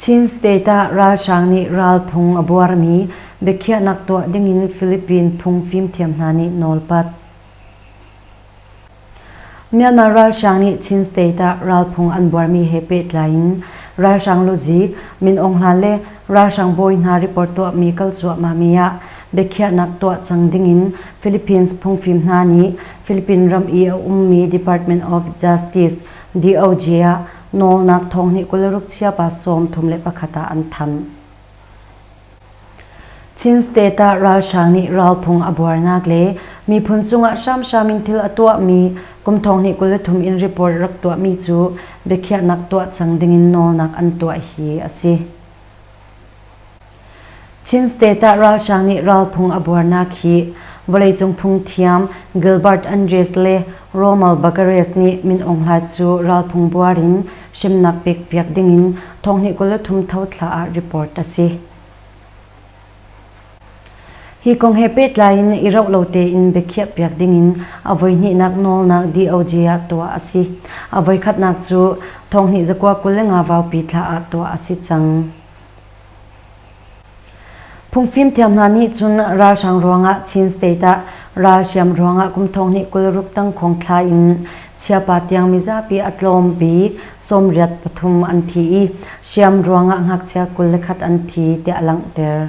Chin state ah ralhrang nih ralphung a buarmi biakhiahnak tuah dingin Philippine phung fimthiam hna nih nawlpat. Myanmar ralhrang nih Chin state ah ralphung an buarmi he pehtlai in ralhrang luzik, Min Aung Hlaing le ralhrang bawi hna report tuahmi kal cuahmahmi ah biakhiahnak tuah cang dingin Philippines phungfim hna nih Philippine ram i a ummi Department of Justice DOJ ah Nawlnak thawng nih kul ruk chiapa sawm thum le pakhat ah an thanh. Chin State ah ralhrang nih ralphung a buarnak le miphun cungah hramhram in thil a tuahmi kum thawng nih kul thum in report rak tuahmi cu biakhiahnak tuah cang dingin nawlnak an tuah hi a si. Chin state ah ralhrang nih ralphung a buarnak hi vawleicung phungthiam Gilbert Andres le Rommel Baccares nih Min Aung Hlain cu ralphung buar in hrimnak pek piak ding in thonghnih kul le thum tho thla ah report a si. Hi kong he pehtlai in i rauh lo tein biakhiah piak ding in a voihnihnak nawlnak DOJ ah tuah a si. A voikhatnak cu thonghnih zakua kul le nga vaupi thla ah tuah a si cang. Phungfimthiam hna nih cun ralhrang ruangah Chin State ah ralhriam ruangah kum thonghnih kul ruk tang khawngthla in chiapa tiang mizapi a tlawm bik sawmriat pathum an thi i hriam ruangah ngakchia kul le khat an thi tiah a langhter.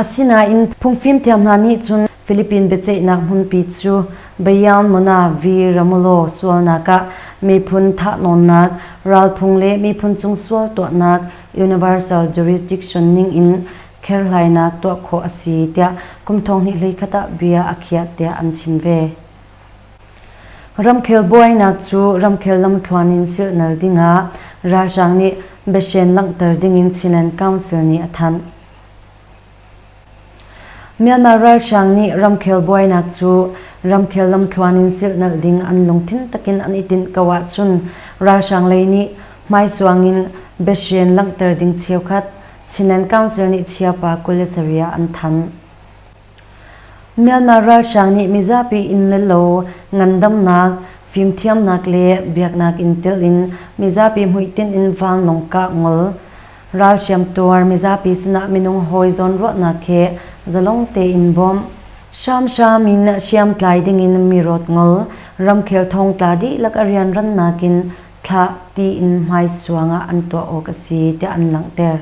Asinain phungfim thiam hna nih cun Philippine biaceihnak hmunpi cu Bayern Monavi Ramulo sualnak ah miphun thahnawnnak, ralphung le miphun chung sual tuahnak universal jurisdiction ningin kherhlainak tuah khawh a si tiah kum thong hnih hlei khat ah bia a khiah tiah an chim ve. Ramkhel buainak cu ramkhel lamthluan in silhnal dingah ralhrang nih biahren langhter dingin Chinland Council nih a thanh. Myanmar ralhrang nih ramkhel buainak cu ramkhel lamthluan in silhnalh ding an lungthin takin an i tinh ko ahcun ralhrang lei nih hmaisuang in biahren langhter ding cheukhat Chinland Council nih chiapa kul le sarih ah an thanh. Myanmar ralhrang nih mizapi inn le lo ngandamnak, fimthiamnak le biaknak in telh in mizapi hmuitinh in vanlawng kah ngol, ral hriamtuar mizapi sinah minung hawi zawnruahnak he zalong tein bawmh, hramhram in hriamtlai dingin mi rawt ngol, ramkhel thong tla dihlak a rianrannak in thlah tiin hmaisuang ah an tuah awk a si tiah an langhter.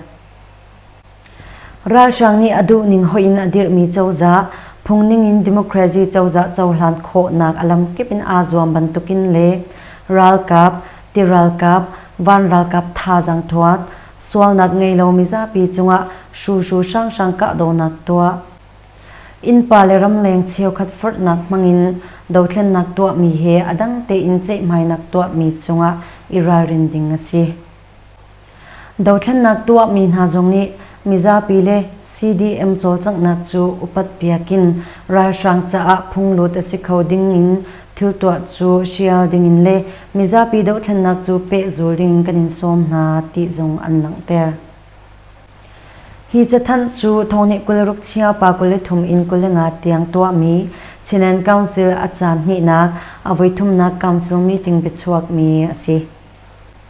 Ralhrang nih a duhning hoih in a dirhmi cozah, phungning in democracy cozah cohlan khawhnak a lamkip in aa zuam bantukin le ralkap, tiralkap, van ralkap thazang thuat, sualnak ngei lo mizapi cungah hruhru hranghrang kahdohnak tuah, innpa le ramleng cheukhat forhnak hmangin dothlennak tuahmi he a dang tein ceihmainak tuahmi cungah i ralrin ding a si. Dothlennak tuahmi hna zong nih mizapi le CDM cawlcanghnak cu upat piak in ralhrang caah phunglut a si kho ding in thiltuah cu hrial ding in le mizapi dohthlennak cu pehzul ding kan in sawm hna ti zong an langhter. Hi cathanh cu thawngnih kul ruk chia pa kul le thum in kul le nga tiang tuahmi Chinland Council a caan hnihnak a voithumnak council meeting biachuakmi a si.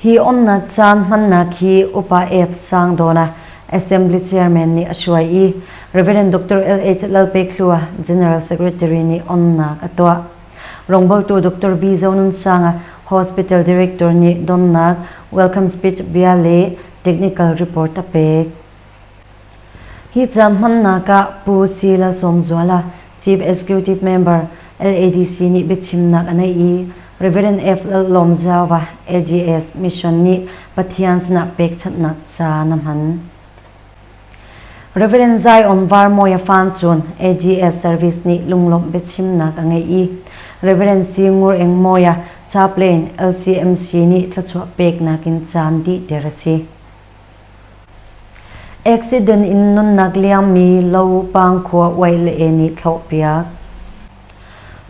Hi umnak caan hmannak hi Upa F. Sang Dona, Assembly Chairman nih a hruai i Reverend Dr. LH Lalpekhlua, General Secretary nih onnak a tuah. Rongboltu Dr. B. Zonunsanga, Hospital Director nih donnak welcome speech bia le technical report a pek. Hi ca hmannak ah Pu Si Lalsawmzuala, Chief Executive Member, LADC nih biachimnak a neih i Rev. F. Lallawm Zauva, LGS Mission nih Pathian sinah pekchanhnak ca na hman. Rev. Zion Varmawia Fan cun AGS Service nih lunglawmh biachimnak a ngeih i Rev. C. Ngur Eng Mawia, Chaplain, LCMC nih thluachuah peknak in caan dih ter a si. Accident in nunnak liangmi lo pangkhua uai le e nih thlawhpiak.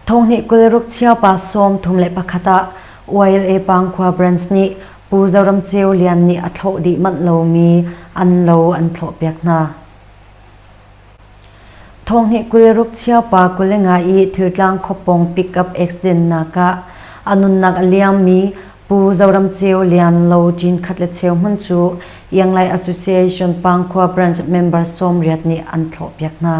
Thonghnih kul ruk chia pa sawm thum le pakhat ah uai le pangkhua brands nih Pu Zoram Ceu Lian nih a thlawh dih manh lomi an lo an thlawhpiak hna. Thawngnih kul ruk cheu pa kul i nga i thiltlang khuapawng pick-up accident nakah a nunnak a liammi Pu Zoram Ceu Lian Lo Cin khat le cheu hmun cu Ianglai Association Pangkhua Branch member sawmriat nih an thlawhpiak hna.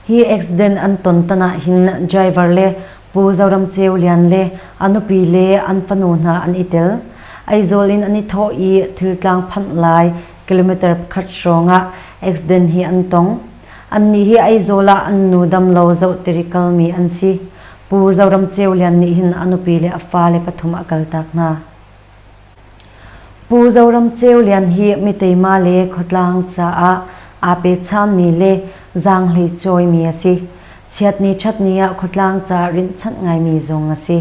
Hi accident an ton tan ah hin driver le Pu Zoram Ceu Lian le a nupi le an fanu hna an i tel. Aizawl in an i thawh i thiltlang phanh lai kilometer pakhat hrawng ah accident hi an tong. Annih hi Aizawl ah an nu damlo zohttiri kalmi an si. Pu Zoram Ceu Lian nih hin a nupi le a fale pathum a kaltak hna. Pu Zoram Ceu Lian hi Miteima le Khuatlang caah aa pechanmi le zaanghlei cawimi a si. Chiatni ṭhatni ah khuatlang ca rinhchanh ngaimi zong a si.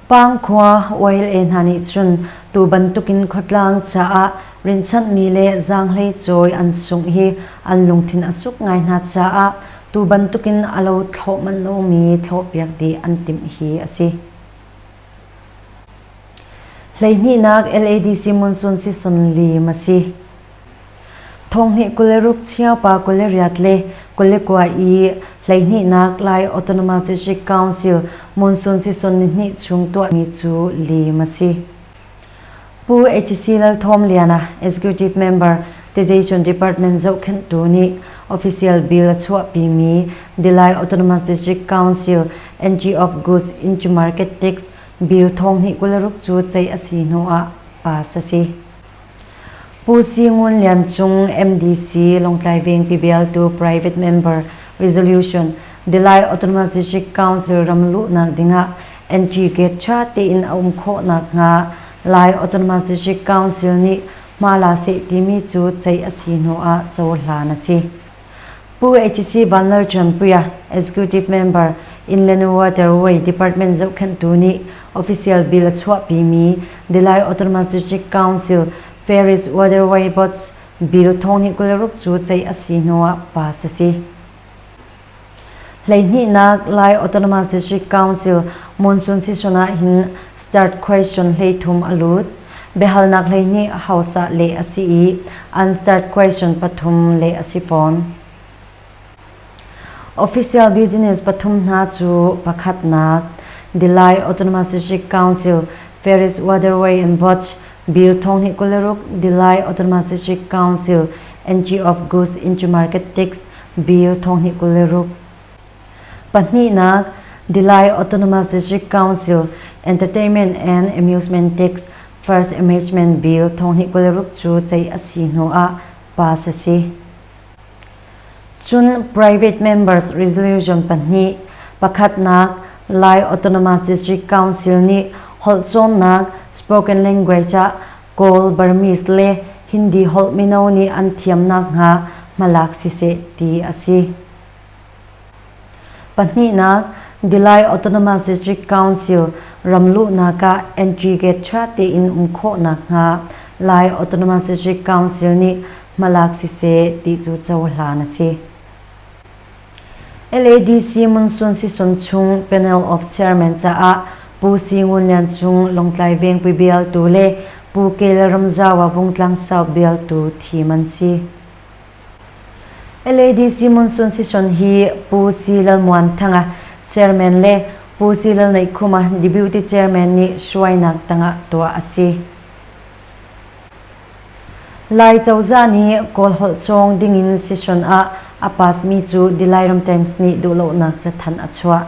Pangkhua YLA hna nih cun tu bantukin khuatlang caah rinhchanhmi le zaanghlei cawi an sungh hi an lungthin a suk ngai hna caah tu bantukin a lo thlawh manh lomi thlawhpiak dih an timh hi a si. Hleihnihnak LADC monsoon season lim a si. Thonghnih kul le ruk chiaupa kul le riat le kul le kua i hleihnihnak Lai Autonomous District Council monsoon season ni hnih chung tuahmi cu lim a si. Pu HC Lal Thawm Liana, Executive Member, Tization Department zohkhenhtu nih official bill a chuahpimi Dilai Autonomous District Council Entry of Goods into Market Tax Bill thonghnih kularuk cu ceih a si hnu ah pass a si. Pu Si Ngun Lian Cung, MDC, Lawngtlai Vengpi bialtu private member resolution Dilai Autonomous District Council ram luhnak dingah NGGate ṭha tein a um khawh nakhnga Lai Autonomous Council nih Hmala seh timi cu ceih a si hnu ah cohlan a si. Pu HC Van Lal Ṭianpuia, Executive Member, Inn le Waterway Department zohkhenhtu nih official bill a chuahpimi The Lai Autonomous Council Ferries Waterway Boards Bill thong hnih kul le ruk cu ceih a si hnu ah pass a si. Hleihnihnak Lai Autonomous District Council monsoon season ah hin start question hleithum a lut. Biahalnak hleihnih hausa leh a si i an start question pathum leh a si fawn. Official business pathum hna cu pakhatnak The Lai Autonomous District Council Ferris Waterway and Botch Bill thong hi kuleruk The Lai Autonomous District Council NG of Goods into Market Tax Bill thong hnih kul le ruk. Pahnihnak, Delhi Autonomous District Council Entertainment and Amusement Tax First Amendment Bill thong hnih kul le ruk cu ceih a si hnu ah pass a si. Cun private members resolution pahnih pakhatnak Lai Autonomous District Council nih holh cawnnak spoken language ah Kawl, Burmese le Hindi holh mino nih an thiam nakhnga hmalak siseh ti a si. Pahnihnak, Delhi Autonomous District Council ramluhnak ah entry gate ṭha tein um khawh nakhnga Lai Autonomous District Council nih hmalak siseh ti cu cohlan a si. LADC Monsoon season chung Panel of Chairman caah Pu Si Ngun Lian Cung Lawngtlai Vengpui bialtu le Pu Kel Ramzawa Vungtlang South bialtu thim an si. LADC Monsoon season hi Pu Si Lal Muan Thanga Chairman le Pu Si Lal Neih Khuma Deputy Chairman nih hruainak tangah tuah a si. Lai cozah nih Kawlholh cawng dingin session ah a pasmi cu Dilai Ramteng nih duhlonak cathanh a chuah.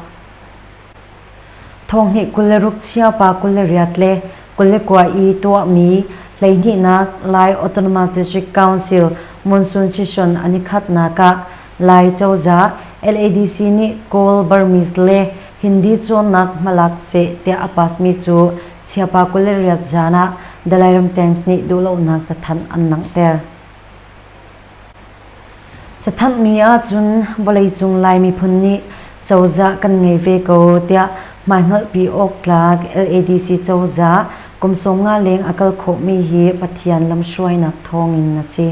Thonghnih kul le ruk chia pa kul le riat le kul le kua i tuahmi hleihnihnak Lai Autonomous District Council monsoon session an i khatnak ah Lai cozah LADC nih Kawl, Burmese le Hindi cawnnak hmalak seh tiah a pasmi cu chiapa kul le riat zan ah Dalai Ram Times nih duhlonak cathanh an langhter. Cathanhmi ahcun vawleicung Lai miphun nih cozah kan ngei ve ko tiah hmaihngalhpi awk tlak LADC cozah kum sawm nga leng a kal khawhmi hi Pathian lamhruainak thawng in a si.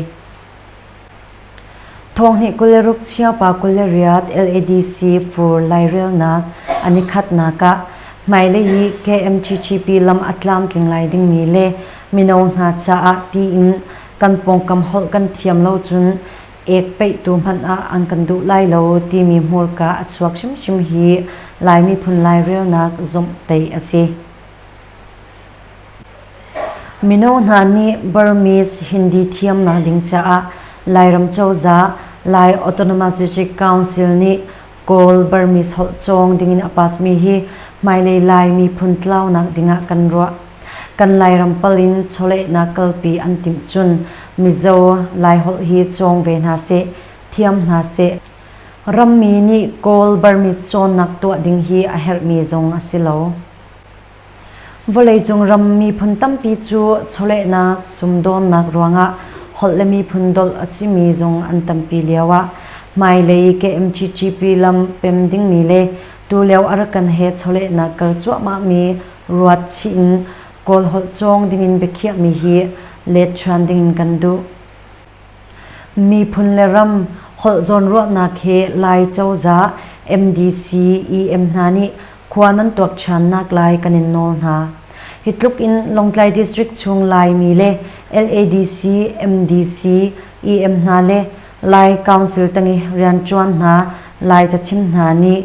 Thawngnih kul le ruk chio pa kul le riat LADC fur lairelnak an i khatnak ah hmailei i KMTTP lam a tlamtling lai dingmi le mino hna caah tiin kan pawngkam holh kan thiam lo cun ek peihtu hmanh ah an kan duh lai lo timi hmurka a chuak hrimhrim hi Lai miphun lairelnak zumh tei a si. Mino hna nih Burmese Hindi thiamnak ding caah Lairam cozah Lai Autonomous Council nih Kawl Burmese holh cawng dingin a pasmi hi hmailei Lai miphun tlaunak dingah kan ruah. Kan Lairam pal in chawlehnak kalpi an timh cun Mizo Laiholh hi cawng ve hna seh, thiam hna seh. Rammi nih Kawl Burmese cawnnak tuah ding hi a herhmi zong a si lo. Vawleicung ram miphun tampi cu chawlehnak, sumdawnnak ruangah holh le miphun dolh a simi zung an tampi lioah hmailei KMTTP lam pem dingmi le tulio Arakan he chawlehnak kal cuahmahmi ruat chih in Kawl holh cawng dingin biakhiahmi hi let ṭhan dingin kan duh. Miphun le ram holh zawnruahnak he Lai cozah, MDC, EM hna nih khua nan tuak ṭhannak lai kan in nawl hna. Hi tluk in Lawngtlai District chung Laimi le LADC, MDC, EM hna le Lai Council tang i rianṭuan hna Lai cachim hna nih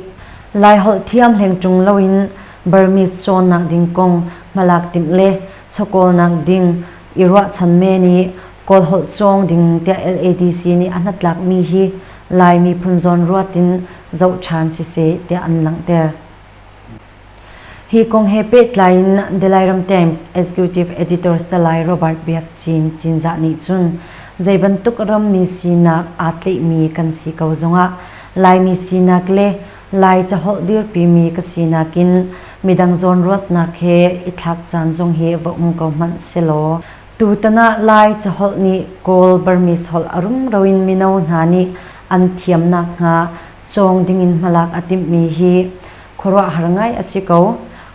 Laiholh thiam hleng ṭung loin Burmese cawnnak ding kong hmalak timh le chawkawlnak ding i ruahchan men i Kawlholh cawng ding tiah LADC nih a hnatlakmi hi Lai miphun zawnruat in zoh ṭhan siseh tiah an langhter. Hi kong he pehtlai in The Lairam Times Executive Editor Salai Robert Biak Cin Cinzah nih cun zei bantuk rammi sinak aa tleihmi kan si ko zongah Laimi sinak le Lai caholh dirpimi ka sinak in midang zawnruatnak he i thlak caan zong hi va um ko hmanh sehlaw Tutan ah Lai caholh nih Kawl Burmese holh a rumro in mino hna nih an thiam nakhnga cawng dingin hmalak a timhmi hi khuaruahhar ngai a si ko.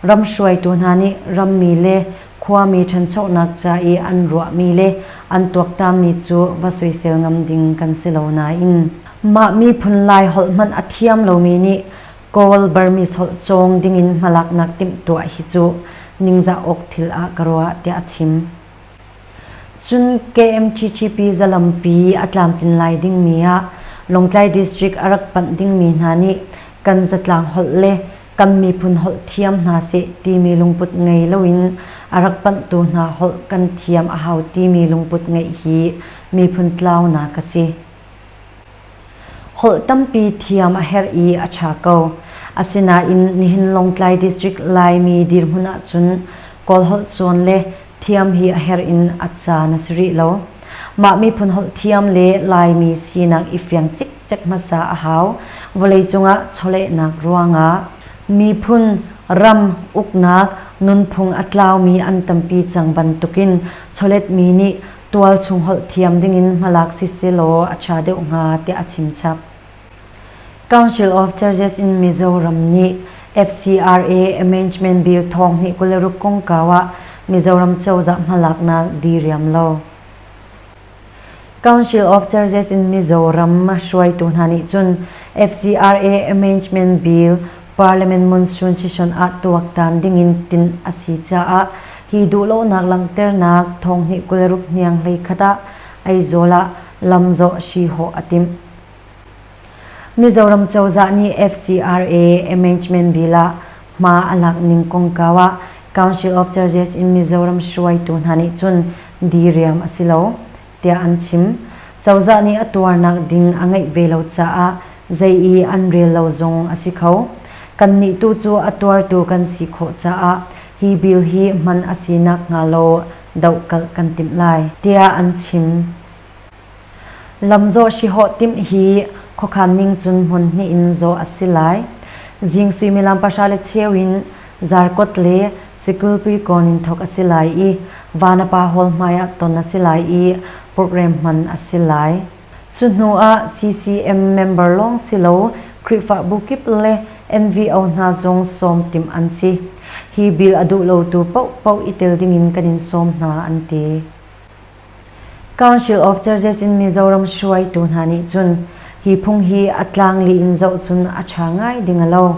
Ram hruaitu hna nih rammi le khuami ṭhanchonak ca i an ruahmi le an tuaktanmi cu va soisel ngam ding kan si lo nain mah miphun Lai holh hmanh a thiam lomi nih Kawl Burmese holh cawng dingin hmalaknak timhtuah hi cu ningzah awk thil ah ka ruah, tiah a chim. Cun KMTTP zalampi a tlamtlin lai dingmi ah Lawngtlai District a rak panh dingmi hna nih kan zatlang holh le kan miphun holh thiam hna seh timi lungput ngei loin a rak panhtu hna holh kan thiam a hau timi lungput ngeih hi miphun tlaunak a si. Holh tampi thiam a herh i a ṭha ko. Asinain nihin Lawngtlai District Laimi dirhmun ahcun Kawlholh cawn le thiam hi a herh in a caan a si rih lo. Mah miphun holh thiam le Laimi sinak i fiang cikcek hmasa a hau. Vawleicung ah chawlehnak ruangah miphun, ram, uknak, nunphung a tlaumi an tampi cang bantukin chawletmi nih tual chung holh thiam dingin hmalak si selaw a ṭha deuh hnga tiah a chimchap. Council of Churches in Mizoram nih FCRA Amendment Bill thawng hnih kul le ruk kongkau ah Mizoram cozah hmalaknak diriam lo. Council of Churches in Mizoram hruaitu hna nih cun FCRA Amendment Bill Parliament monsoon session ah tuaktan dingin tinh a si caah hi duhlonak langhternak thonghnih kul ruk hniang hleikhat ah Aizawl ah lamzawh hrihawh a timh. Mizoram cozah nih FCRA Amendment Bill ah hma a lak ning kongkau ah Council of Churches in Mizoram hruaitu hna nih cun diriam a si lo. tiah an chim. Cozah nih a tuarnak ding a ngeih ve lo caah zei i an rel lo zong a si kho. Kannih tu cu a tuartu kan si khawh caah hi bill hi hman a si nakhnga law dohkalh kan timh lai, tiah an chim. Lamzawh hrihawh timh hi khuakhan ning cun hmun hnih in zawh a si lai. Zing suimilam pahra le cheu in Zarkawt le Sikulpui kawn in thawk a si lai i Vanapa Hall hmaiah ton a si lai i program hman a si lai. Cu hnu ah CCM member lawng si lo Khrihfabu kip le NVO hna zong sawm timh an si. Hi bill a duh lotu paohpaoh i tel dingin kan in sawm hna an ti. Council of Churches in Mizoram hruaitu hna nih cun hi phung hi a tlangli in zoh cun a ṭha ngai ding a lo.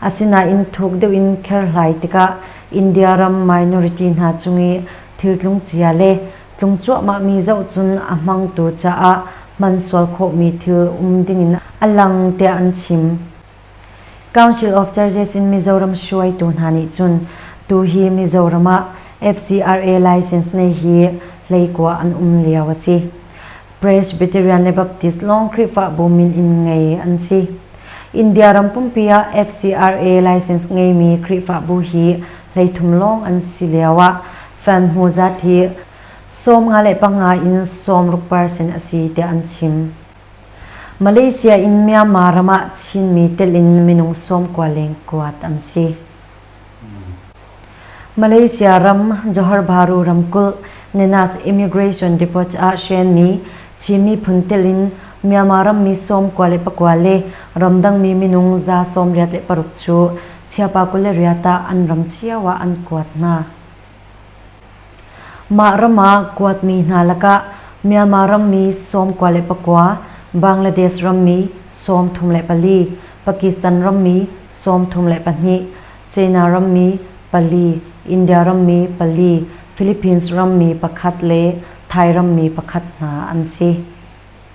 Asinain thuk deuh in kherhlai tikah India ram minority hna cung i thiltlung cia le tlung cuahmahmi zoh cun a hmangtu caah hman sual khawhmi thil um dingin a lang tiah an chim. Council of Churches in Mizoram hruaitu hna nih cun tuhi Mizoram ah FCRA license nei hi hleikua an um lio a si. Presbyterian le Baptist lawng Khrihfabu min in ngei an si. India ram pumpi ah FCRA license ngeimi Khrihfabu hi hleithum lawng an si lio ah fan hmu zat hi sawm nga le panga in sawm ruk percent a si tiah an chim. Malaysia in Myanmar ram ah Chinmi telh in minung sawm kua leng kuat an si. Malaysia ram Johor Bahru ramkulh Nenas Immigration Depot ah hrenmi Chin miphun telh in Myanmar rammi sawm kua le pakua le ramdangmi minung za sawm riat le paruk cu Chiapa kul le riat ah an ram cio ah an kuat hna. Mah ram ah kuatmi hna lakah Myanmar rammi sawm kua le pakua, Bangladesh rammi sawm thum le pali, Pakistan rammi sawm thum le pahnih, China rammi pali, India rammi pali, Philippines rammi pakhat le Thai rammi pakhat hna an si.